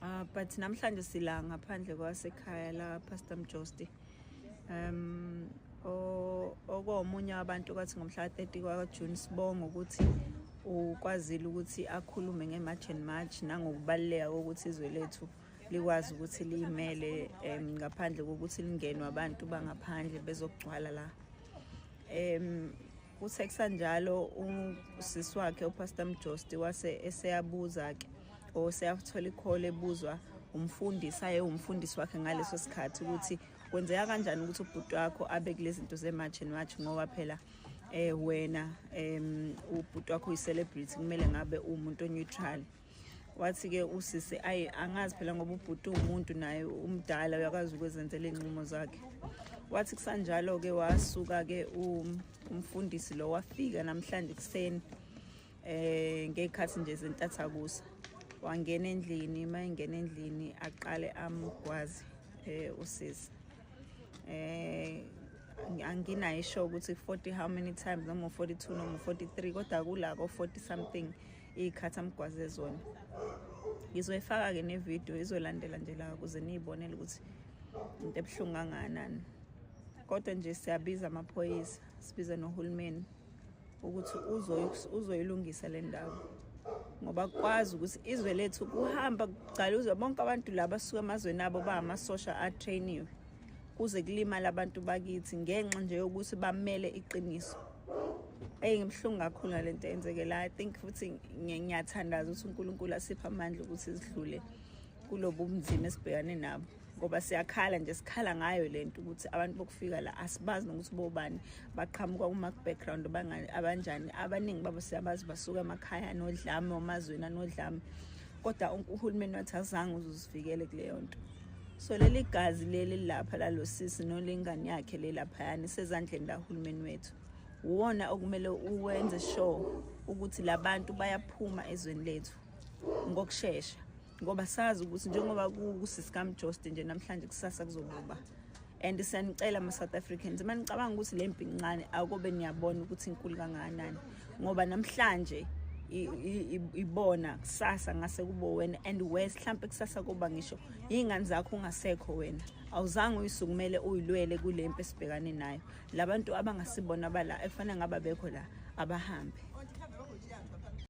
Uh, but namhlanje sila ngaphandle kwasekhaya la Pastor Mjosti um okomunye wabantu kwathi ngomhla 30 kwa June sibonga ukuthi ukwazile ukuthi akhulume ngeMarch and March nangokubaluleka kokuthi izwe lethu likwazi ukuthi liyimele um ngaphandle kokuthi lingenwe abantu bangaphandle bezokugcwala la um kuthe kusanjalo usisi wakhe upastor mjosti wase eseyabuza-ke o seyakuthola ikhole ebuzwa umfundisi aye umfundisi wakhe ngaleso sikhathi ukuthi kwenzeka kanjani ukuthi ubhuti wakho abe kulezi zinto zemarch and march ngoba phela eh wena em ubhuti wakho uyicelebrity kumele ngabe umuntu oneutral wathi ke usisi ayi angazi phela ngoba ubhuti umuntu naye umdala uyakwazi ukwezenzela inqumo zakhe wathi kusanjalo ke wasuka ke um, umfundisi lo wafika namhlanje kuseni eh ngekhathi nje zentathakusa wangena endlini uma engena endlini aqale amgwazi eh usisi eh anginayo isho ukuthi 40 how many times noma 42 noma 43 kodwa kula ko 40 something ikhathi amgwaze zona ngizoyifaka ke ne video izolandela nje la kuze niyibonele ukuthi into ebuhlungu kangakanani kodwa nje siyabiza amaphoyisa sibiza nohulumeni ukuthi uzoyilungisa le ndawo ngoba kwazi ukuthi izwe lethu kuhamba kugcaluzwa bonke abantu laba suka emazweni abo bahamasosha atrainiwe kuze kulimala abantu bakithi ngenxa nje yokuthi bamele iqiniso eyi ngibuhlungu kakhulu ngale nto eyenzekela i think futhi ngiyathandaza ukuthi unkulunkulu asiphe amandla ukuthi zidlule kulobu bunzima esibhekane nabo ngoba siyakhala nje sikhala ngayo le nto ukuthi abantu bokufika la asibazi nokuthi bobani baqhamuka kuma-background abanjani abaningi babo siyabazi basuka emakhaya anodlame omazweni anodlame kodwa uhulumeni wathi azange uzuzivikele kuleyo nto so leli gazi leli lapha lalosisi nolengane yakhe le laphayana isezandleni lahulumeni wethu uwona okumele uwenze sure ukuthi labantu bayaphuma ezweni lethu ngokushesha ngoba sazi ukuthi njengoba kusikamjoste nje namhlanje kusasa kuzobuba and siyanicela ama-south africans uma nicabanga ukuthi le mpi ncane akobe niyabona ukuthi inkulu kangakanani ngoba namhlanje ibona kusasa ngase kubo wena and wes mhlampe kusasa kuba ngisho yingane zakho ungasekho wena awuzange uyisukumele uyilwele kule mpi esibhekane nayo labantu abangasibona bala efanele ngaba bekho la abahambe